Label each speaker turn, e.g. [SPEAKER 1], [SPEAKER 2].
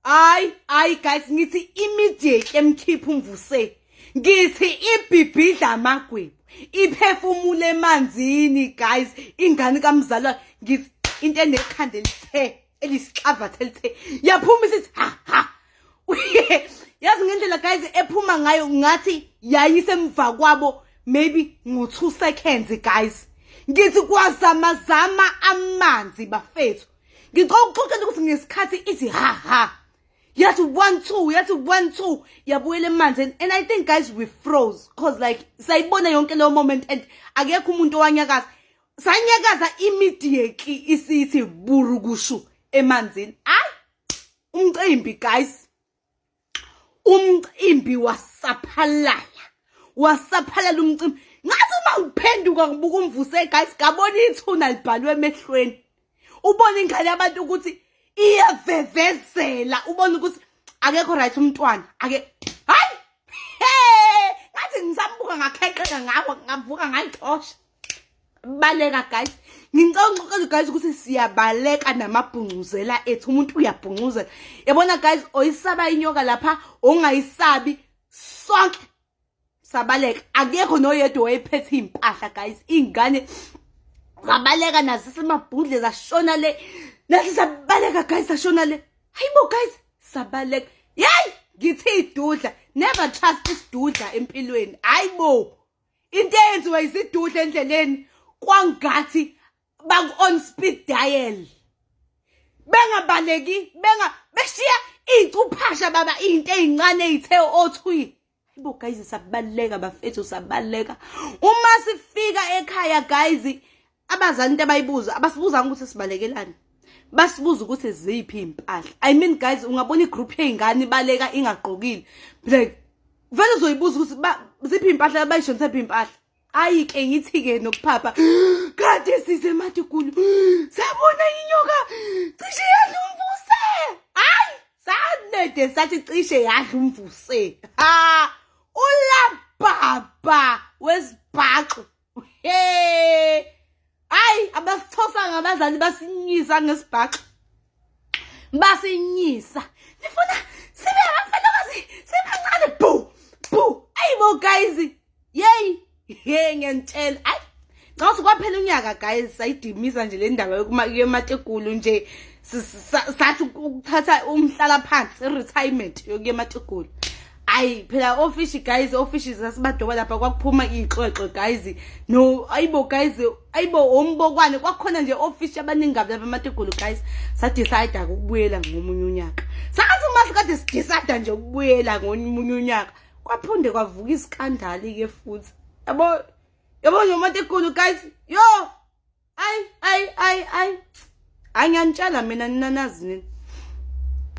[SPEAKER 1] hayi hayi guys ngithi immediately emkhipha umvuse ngithi ibhibhidla amagwebu iphefumule emanzini guys ingane kamzalwa ngithi into enekhanda elithe elisixavatha elithe yaphuma isithi ha ha yazi ngendlela guys ephuma ngayo ngathi yayisemva kwabo maybe ngo-two seconds guys ngithi kwazamazama amanzi bafethu ngicela ukuxoxela ukuthi ngesikhathi ithi ha ha yathi one two yathi one two yabuyela emanzini and i think guys we froze cause like sayibona yonke leyo moment and akekho umuntu owanyakaza sanyakaza immediately isithi burukushu emanzini ayi umcimbi guys umcimbi wasaphalala wasaphalala umcimbi ngathi uma ngiphenduka ngibuka umvuse guys ngabona ithuna libhalwe emehlweni ubona ingane yabantu ukuthi iyavevezela ubona ukuthi akekho right umntwana ake hayi ngathi ngisambuka ngakheqeka ngawo ngavuka ngayixosha baleka guys ngicela ngixoxele guys ukuthi siyabaleka namabhungcuzela ethu umuntu uyabhungcuzela yabona guys oyisaba inyoka lapha ongayisabi sonke sabaleka akekho noyedwa wayephethe impahla guys ingane zabaleka nazo semabhudle zashona le nathi sabaleka guys sashona le hayibo guys sabaleka yayi ngithi idudla never trust isidudla empilweni hayibo into eyenziwa izidudla endleleni kwangathi baku on speed dial bengabaleki benga beshiya icuphasha baba into ezincane ezithe othwi Bo guys sabaleka bafethu sabaleka uma sifika ekhaya guys abazali into abayibuza abasibuzanga ukuthi sibalekelani basibuza ukuthi ziphi impahla i mean guys ungabona igroup yeingane ibaleka ingagqokile like vele uzoyibuza ukuthi ziphi impahla abayishonisa phi impahla ayi ke ngithi ke nokuphapha kade size matigulu sabona inyoka cishe yadla umvuse hayi sanede sathi cishe yadla umvuse ha ulababa wesibhaxu hey hayi abasithosa ngabazali basinyisa ngesibhaxo basinyisa nifuna sibe abafelokazi sibancane bhu bhu ayi bo guys yeyi ye ngiyantshela ayi xa sikwaphela unyaka guys sayidimisa nje le ndaba yokumatekulu nje sathi ukuthatha umhlala phansi i-retirement yokuya emategulu ayi phela ofishi guys ofishi sasibadoba lapha kwakuphuma iy'xoxo guys no ayibo guys ayibo ombokwane kwakhona nje ofishi abaningi kabi lapha amategolo guys sadecide-ke ukubuyela ngomunye unyaka sathi uma sikade sidecide nje ukubuyela ngomunye unyaka kwaphinde kwavuka isikandali-ke futhi yabo yabo nje umategolo guys yo ayi ayi ayi ayi angiyanitshela mina ninanazini